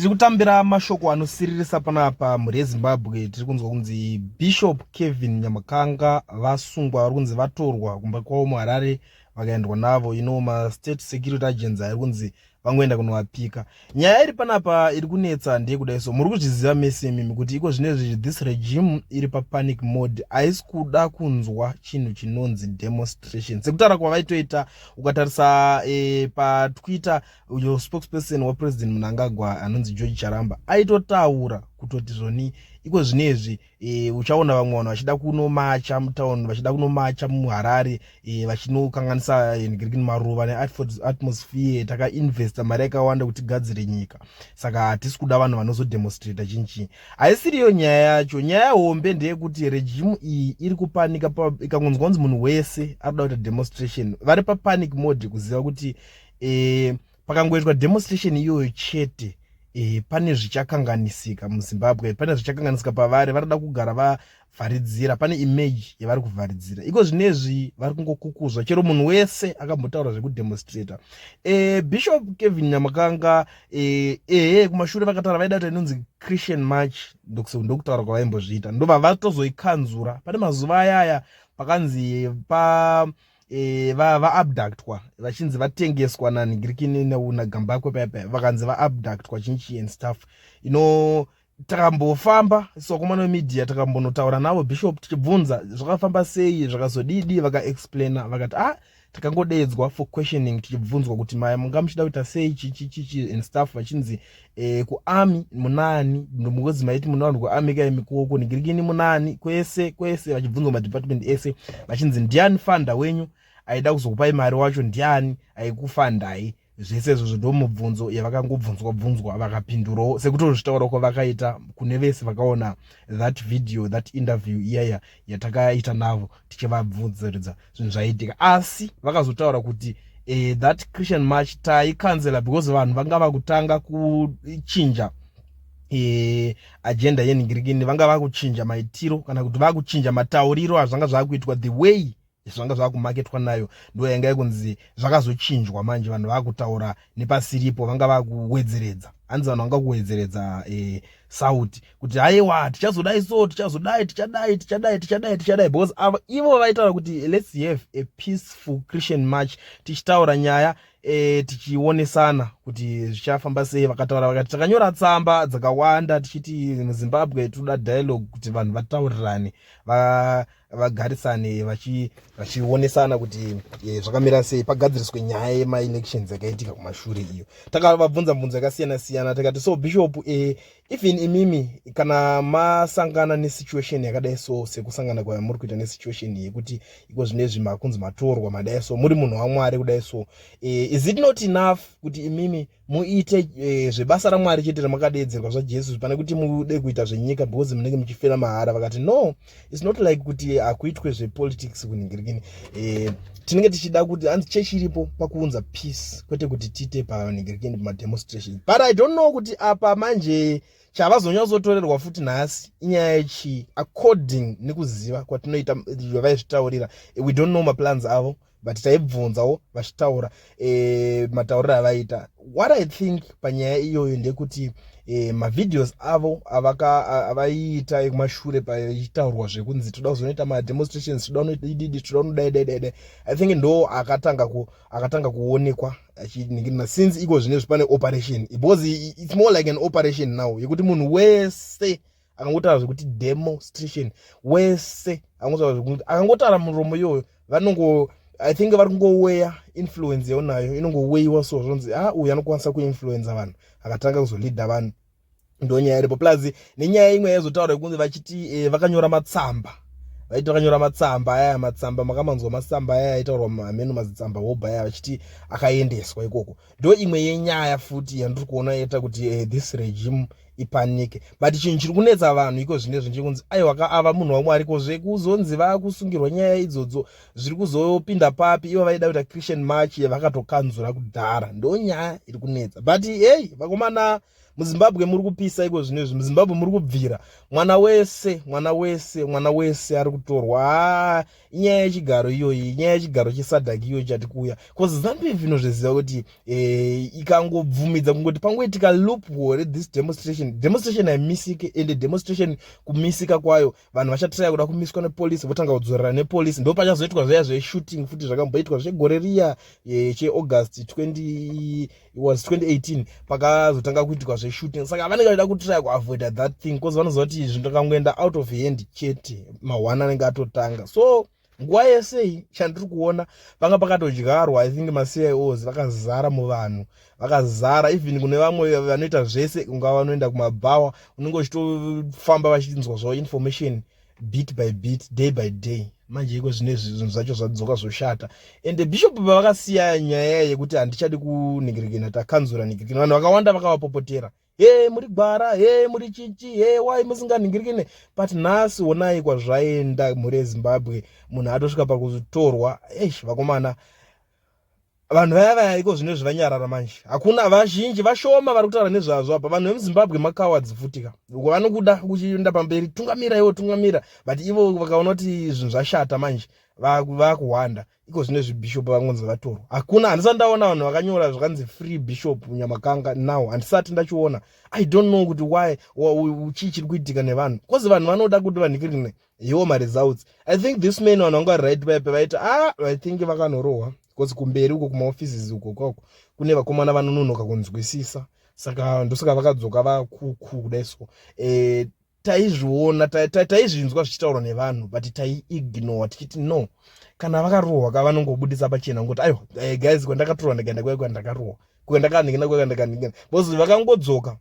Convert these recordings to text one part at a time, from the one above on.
tiri kutambira mashoko anosiririsa panapa mhuri yezimbabwe tiri kunzwa kunzi bishop kevin nyamakanga vasungwa vari kunzi vatorwa kumba kwavo muharare vakaendwa navo ino mastate security agents ari kunzi vangoenda kunovapika nyaya iri panapa iri kunetsa ndeye kudai so muri kuzviziva mese imimi kuti iko zvine zvizvi this regime iri papanic mode haisi kuda kunzwa chinhu chinonzi demonstration sekutaura kwavaitoita ukatarisa e, patwitter uyo spokesperson wapresident munangagwa anonzi george charamba aitotaura kutoti zvoni iko zvino izvi e, uchaona vamwe vanhu vachida kunomacha mutown vachida kunomacha muharare e, vachinokanganisa hengriki e, maruva neatmosphere takainvesta mari yakawanda kuti gadzire nyika saka hatisi kuda vanhu vanozodemonstrata chini chii haisiriyo nyaya yacho nyaya hombe ndeyekuti regimu iyi iri kupanika ikangonzwa kunzi munhu wese ari kuda kuita demonstration vari papanic mode kuziva kuti e, pakangoitwa demonstration iyoyo chete e, pane zvichakanganisika muzimbabwe pane zvichakanganisika pavari vanoda kugara vavharidzira pane image yavari kuvharidzira iko zvinezvi vari kungokukuzwa chero munhu wese akambotaura zvekudemonstrata e, bishop kevin nyamakanga ehe e, kumashure vakataura vaida kuti inonzi christian march ndokutaura kwavaimbozviita ndobva vatozoikanzura pane mazuva ayaya pakanzi pa e, va, va abductwa vachinzi vatengeswa nanhigirikini nagambakwe paya paya vakanzi va abductwa chinchi and stuff you know takambofamba sokomana wemedia takambonotaura navo bishop tichibvunza zvakafamba sei zvakazodidi vakaexplaina vakati ah takangodeedzwa for questioning tichibvunzwa kuti maya munga muchida kuita sei chichichichi and stuff vachinzi eh, kuami munani ndomukozi maiti mune vanhu kuami kai mikuoko nigirikini munani kwese kwese vachibvunzwa madepartment ese vachinzi ndiani fanda wenyu aida kuzokupai mari wacho ndiani aikufandai zvese izvozvo ndomubvunzo yavakangobvunzwa bvunzwa vakapindurawo sekutozvitaura kwavakaita kune vese vakaona that video that interview iyaya yatakaita navo tichivabvunziridza zvinhu zvaiitika asi vakazotaura kuti eh, that christian march taikanzela because vanhu vanga vakutanga kuchinja eh, agenda yenhingirikini vanga vakuchinja maitiro kana kuti vakuchinja matauriro azvanga zvakuitwa the way zvanga zvakumaketwa nayo ndo yanga ikunzi zvakazochinjwa manje vanhu vakutaura nepasiripo vanga vakuwedzeredza hanzi vanhu vanga kuwedzeredza e, sauti kuti haiwa tichazodai so tichazodai tichadai tichadai tichadai tichadai because avo ivo vaitaura kuti let's have a peaceful christian march tichitaura nyaya e, tichionesana kuti zvichafamba sei vakataura vakati takanyora tsamba dzakawanda tichiti muzimbabwe toda dialogue kuti vanhu vataurirane va vagarisane vachionesana kuti e, zvakamira sei pagadziriswe nyaya yemaelections yakaitika kumashure iyo takavabvunza mubvunzo yakasiyana siyana takati so bishop e, even imimi kana masangana nesituation yakadai so sekusangana kwamuri kuita nesituation yekuti iko zvine zvi makunzi matorwa madai so muri munhu wamwari kudai so e, is it not enough kuti imimi muite eh, zvebasa ramwari chete ramakadeedzerwa zvajesu pane kuti mude kuita zvenyika because munenge muchifira mahara vakati no its not like kuti hakuitwe zvepolitics kunhingirikini eh, tinenge tichida kuti hanzi chechi iripo pakuunza peace kwete kuti tiite panhingirikini pamademonstration but i don't know kuti apa manje chavazonyatsotorerwa futi nhasi inyaya yechii according nekuziva kwatinoita vavaizvitaurira we don't know maplans avo but taibvunzawo vachitaura e, matauriro avaita what i think panyaya iyoyo ndekuti e, mavideos avo avaiita ekumashure pachitaurwa zvekunzi toda kuzonoita mademonstrations toda unoididi toda unodaidaidai i think ndo akatanga ku, akatanga kuonekwa achiningirina since iko zvine zvipane operation because it's more like an operation now yekuti munhu wese akangotaura zvekuti demonstration wese akangotaura muromo iyoyo vanongo i think vari kungoweya influence yaonayo inongoweyiwa so zvonzi a ah, uyu anokwanisa kuinfluenza vanhu akatanga kuzoleada vanhu ndonyaya iripo plus nenyaya imwe yaizotaura yekunzi vachiti eh, vakanyora matsamba vaiti vakanyora matsamba ayaya matsamba makamanzwa matsamba ayaya aitaurwa hameno mazitsamba hoba ayaya vachiti akaendeswa ikoko ndo imwe yenyaya futi yandiri kuona yeta kuti uh, this regime ipanike but chinhu chiri kunetsa vanhu iko zvine zvinje kunzi aiwa ka ava munhu wamwari ko zvekuzonzi vakusungirwa nyaya idzodzo zviri kuzopinda papi ivo vaida kuita christian march vakatokanzura kudhara ndo nyaya iri kunetsa but hei vakomana muzimbabwe muri kupisa iko zvino izvi muzimbabwe muri kubvira mwana wese mwana wese mwana wese ari kutorwa haa inyaya yechigaro iyoyi inyaya yechigaro chesadak iyoyi chati kuuya bcause zambia vino zviziva kuti eh, ikangobvumidza kungoti pangoitika loop hore this demonstration demonstration haimisike ende demonstration kumisika kwayo vanhu vachatiraya kuda kumiswa nepolisi votanga kudzorera nepolisi ndo pachazoitwa zvaya zveshooting futi zvakamboitwa zvegore riya eh, cheaugust 20 it was 2018 pakazotanga kuitikwa zveshooting saka vanenge vaida kutrya kuavoida that thing bcause vanoziva kuti zvinhu akangoenda out of hand chete mahwana anenge atotanga so nguva yesei chandiri kuona panga pakatodyarwa i think macios vakazara muvanhu vakazara even kune vamwe vanoita zvese kungava vanoenda kumabhawa unenge uchitofamba vachinzwa zvavo information bit by bit day by day manje iko zvine zvinhu zvacho zvadzoka zvoshata ende bishop pavakasiya nyaya yekuti handichadi kunhikirikina takanzura nhikirikina vanhu vakawanda vakavapopotera he muri gwara he muri chichi he wai musinganhingirikine but nhasi onai kwazvaenda mhuri yezimbabwe munhu atosvika pakutorwa eish vakomana vanhu vaya vaya iko zvinezvi vanyarara manje hakuna vazhinji vashoma vari kutaura nezvazvo apa vanhu vemuzimbabwe makawadzi futika uko vanokuda kuchienda pamberi tungamira ivo tungamira but ivo vakaona kuti zvinhu zvashata manje vakuhwanda iko zvine zvibhishopu vangonzi vatorwa hakuna handisati ndaona vanhu vakanyora zvakanzi free bishop nyamakanga now handisati ndachiona i don't know kuti why chii chiri kuitika nevanhu bcause vanhu vanoda kuti vanhikirine iwo maresults i think this man vanhu vanga vari right vaye pevaiti a ah, i think vakanorohwa because kumberi uko kumaoffices uko kwako kune vakomana vanononoka kunzwisisa saka ndosaka vakadzoka vakuku kudai so e, taizviona taizvinzwa zvichitaurwa nevanhu but taiignore tichiti no kana vakarohwa ka vanongobudisa pachena ngokuti aiwa eh, guys kwandakatorwa ndikaenda kwai kwandakarohwa kwandakanikina kwai kwandakanikina because vakangodzoka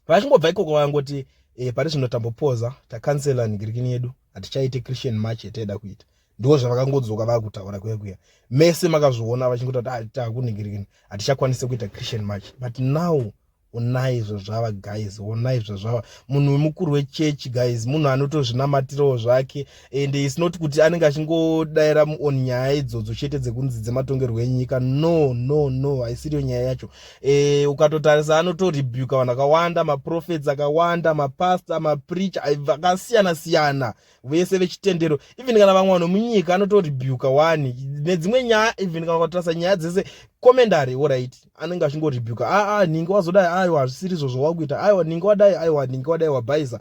vachingobva ikoko vangoti eh, pari zvino tambopoza takansela nigirikini yedu hatichaite christian march yataida kuita ndiwo zvavakangodzoka vakutaura kuya kuya mese makazviona vachingoti ah, takunigirikini hatichakwanise kuita christian march but now onai zvazvava guys onai zvazvava munhu wemukuru wechechi guys munhu anotozvinamatirawo zvake and its not kuti anenge achingodaira on nyaya idzodzo chete dzekunzi dzematongerwo enyika no no no haisiriyo nyaya yacho e, ukatotarisa anotorebuka vanhu akawanda maprofets akawanda mapastor mapreacher vakasiyana siyana vese vechitendero even kana vamwe vanhu munyika anotorebuka wani nedzimwe nyaya even kana ukatarisa nyaya dzese komendari orit anenge achingorebuka aa ah, ah, ninge wazodai aiwa hazvisiri izvo zvawakuita aiwa ninge wadai aiwa ninge wadai wabhaisa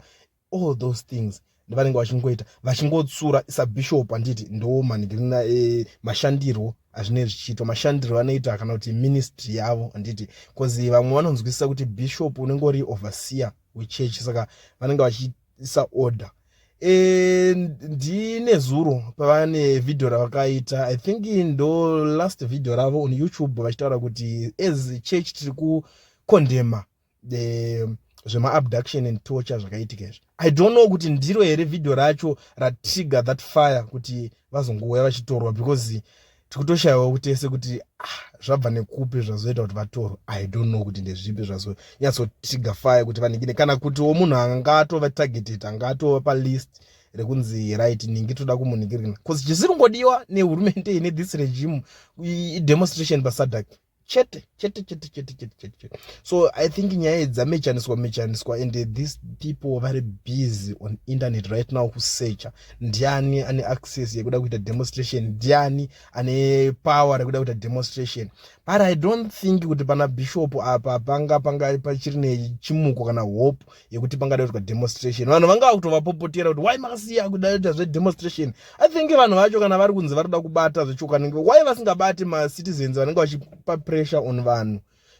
all those things ndivanenge vachingoita vachingotsura sabishop handiti ndo manigirina e, eh, mashandirwo azvinei zvichiitwa mashandiro anoita kana kuti ministry yavo handiti bcause vamwe vanonzwisisa kuti bishop unenge uri overseer wechurch saka vanenge vachiisa order e, ndine zuro pavane vhidhiyo ravakaita i think ndo last vhidhiyo ravo on youtube vachitaura kuti as church tiri kukondema the zvemaabduction and torture zvakaitika izvi i don't know kuti ndiro here vhidhiyo racho ratrigger that fire kuti vazongouya vachitorwa because tikutoshayiwa kutese kuti ah, zvabva nekupi zvazoita kuti vatorwe i don't know kuti ndezvipi zvazonyatsotrigger fire kuti vaningine kana kutiwo munhu anga atova targeted anga atova palist rekunzi right ningi toda kumuningirina bcause chisiri kungodiwa nehurumende ine this regime idemonstration pasadak chete chete chete chete chete chete chete so i think nyaya dzamechaniswa mechaniswa and these people vari busy on internet right now kusecha ndiani ane access yekuda kuita demonstration ndiani ane power rekuda kuita demonstration but i don't think kuti pana bishop apa panga panga pachiri nechimuko kana hope yekuti pangadaitwa demonstration vanhu vanga vakutovapopotera kuti why makasiya kudaita zvedemonstration i think vanhu vacho kana vari kunzi vari kuda kubata zvechokwadi why vasingabati macitizens vanenge vachipa pressure on vanhu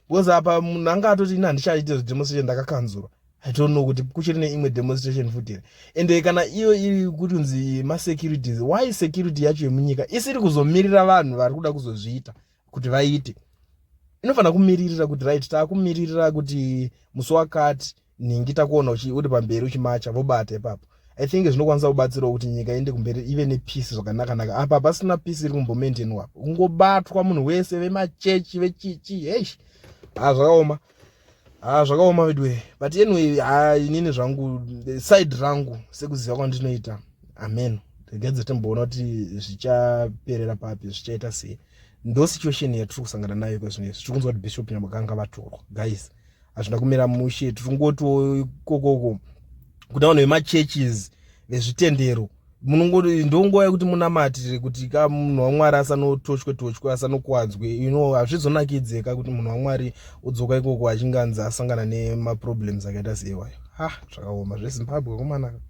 because apa munhu anga atoti ini handichaite zvedemonstration ndakakanzurwa i don't know kuti kuchiri neimwe demonstration futi here ende kana iyo iri kuti unzi masecurities why security yacho yemunyika isiri kuzomirira vanhu vari kuda kuzozviita kuti vaite inofanira kumiririra kuti right takumiririra kuti musi wakati nhingi takuona uri pamberi uchimacha vobata ipapo i think zvinokwanisa kubatsirawo kuti nyika iende kumberi ive nepeace zvakanakanaka apa pasina peace iri kumbomaintainwa kungobatwa munhu wese vemachechi vechichi hesh ha zvakaoma ha zvakaoma veduwe but anyway ha inini zvangu side rangu sekuziva kwandinoita amen regadze timboona kuti zvichaperera papi zvichaita sei ndo situation yatiri kusangana nayo iko zvino izvi tiri kunzwa kuti bishop nyamaganga vatorwa guys hazvina kumira mushe tiri kungotiwo ikokoko kuda vanhu vemachurches vezvitendero munongoti ndonguva yekuti munamatire kuti ka munhu wamwari asanotoshwe toshwe asanokuwadzwe you know hazvizonakidze ka kuti munhu wamwari udzoka ikoko achinge anzi asangana nemaproblems akaita seiwayo ha zvakaoma zvezimbabwe komanaka